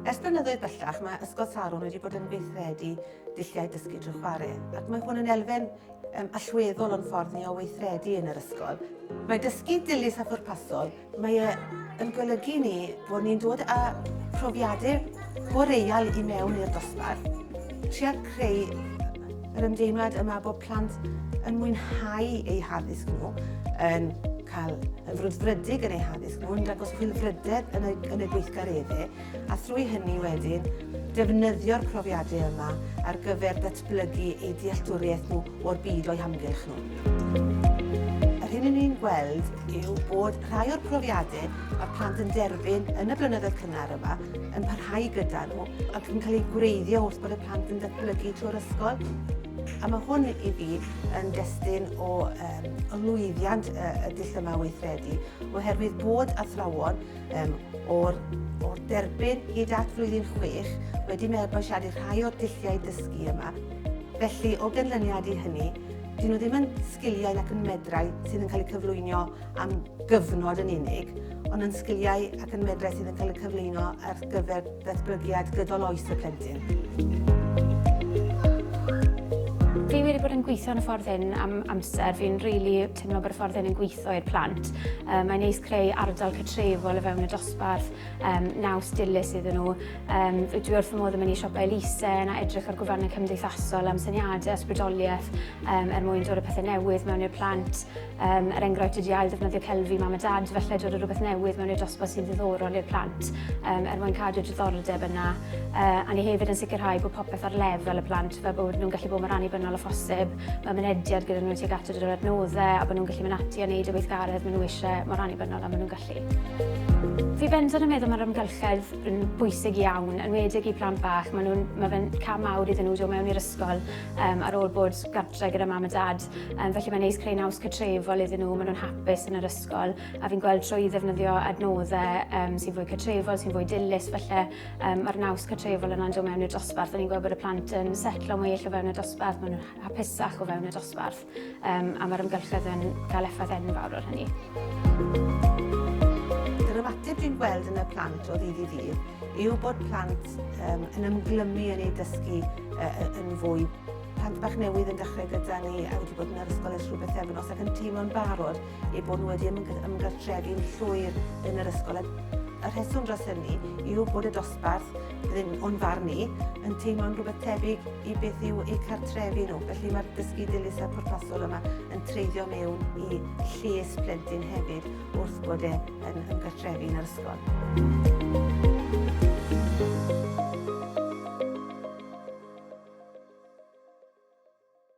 Ers blynyddoedd bellach, mae Ysgol Sarwn wedi bod yn weithredu dulliau dysgu drwy chwarae, ac mae hwn yn elfen um, allweddol o'n ffordd ni o weithredu yn yr ysgol. Mae dysgu dilys a phwrpasol Mae e yn golygu i ni bod ni'n dod â phrofiadau boreal i mewn i'r dosbarth, trio creu yr ymdeimlad yma bod plant yn mwynhau eu haddysg nhw, yn cael yn frwdfrydig yn eu haddysg nhw, yn dangos chwilfrydedd yn y, yn y gweithgareddau, a thrwy hynny wedyn defnyddio'r profiadau yma ar gyfer datblygu eu dealltwriaeth nhw o'r byd o'u hamgylch nhw. Yr hyn yn ni'n gweld yw bod rhai o'r profiadau mae plant yn derbyn yn y blynyddoedd cynnar yma yn parhau gyda nhw ac yn cael eu gwreiddio wrth bod y plant yn datblygu trwy'r ysgol. A mae hwn i fi yn destun o um, lwyddiant y, y dull yma weithredu, oherwydd bod athrawon um, o'r, or derbyn hyd at flwyddyn chwech wedi mabwysiadu rhai o'r dulliau dysgu yma. Felly, o ganlyniad i hynny, dyn nhw ddim yn sgiliau ac yn medrau sydd yn cael eu cyflwyno am gyfnod yn unig, ond yn sgiliau ac yn medrau sydd yn cael eu cyflwyno ar gyfer datblygiad gydol oes y plentyn. Fi wedi bod yn gweithio yn y ffordd hyn am amser. Fi'n rili really teimlo bod y ffordd hyn yn gweithio So i'r plant. Um, mae'n neis creu ardal cytrefol o fewn y dosbarth, um, naws dilys iddyn nhw. Um, dwi wrth y modd yn mynd i siopau elusen a edrych ar gwefannau cymdeithasol am syniadau ysbrydoliaeth um, er mwyn dod o pethau newydd mewn i'r plant. Um, er enghraifft ydi ail ddefnyddio celfi mam a dad, felly dod o rhywbeth newydd mewn i'r dosbarth sy'n ddiddorol i'r plant um, er mwyn cadw diddordeb yna. Uh, a ni hefyd yn sicrhau bod popeth ar lefel y plant fel bod nhw'n gallu bod mor annibynnol o phosib mewn mynediad gyda nhw tuag at yr adnoddau a bod nhw'n gallu mynd ati a wneud y weithgaredd maen nhw eisiau mor annibynnol a maen nhw'n gallu. Fi bendant yn meddwl mae'r amgylchedd yn bwysig iawn, yn wedig i plant bach. Mae, nhw'n, mae fe'n cam mawr iddyn nhw dod mewn i'r ysgol um, ar ôl bod gartre gyda mam a dad. Um, felly mae'n neis creu naws cytrefol iddyn nhw, maen nhw'n hapus yn yr ysgol. A fi'n gweld trwy ddefnyddio adnoddau um, sy'n fwy cytrefol, sy'n fwy dilys, felly Um, mae'r naws cartrefol yna'n dod mewn i'r dosbarth. Ni'n gweld bod y plant yn setlo mwy eich o fewn y dosbarth, maen nhw'n hapusach o fewn y dosbarth, um, a mae'r ymgylchedd yn cael effaith enfawr o'r hynny. Yr ymateb dwi'n gweld yn y plant o ddydd i ddydd yw bod plant um, yn ymglymu yn ei dysgu uh, yn fwy plant bach newydd yn dechrau gyda ni a wedi bod yn yr ysgol ers rhywbeth efnos ac yn teimlo'n barod eu bod nhw wedi ymgartrefu'n llwyr yn yr ysgol. Y rheswm dros hynny yw bod y dosbarth, ddim o'n farn ni, yn teimlo'n rhywbeth tebyg i beth yw eu cartrefu nhw. Felly mae'r dysgu dilys a pwrpasol yma yn treiddio mewn i lles plentyn hefyd wrth bod e yn ymgartrefu yn yr ysgol.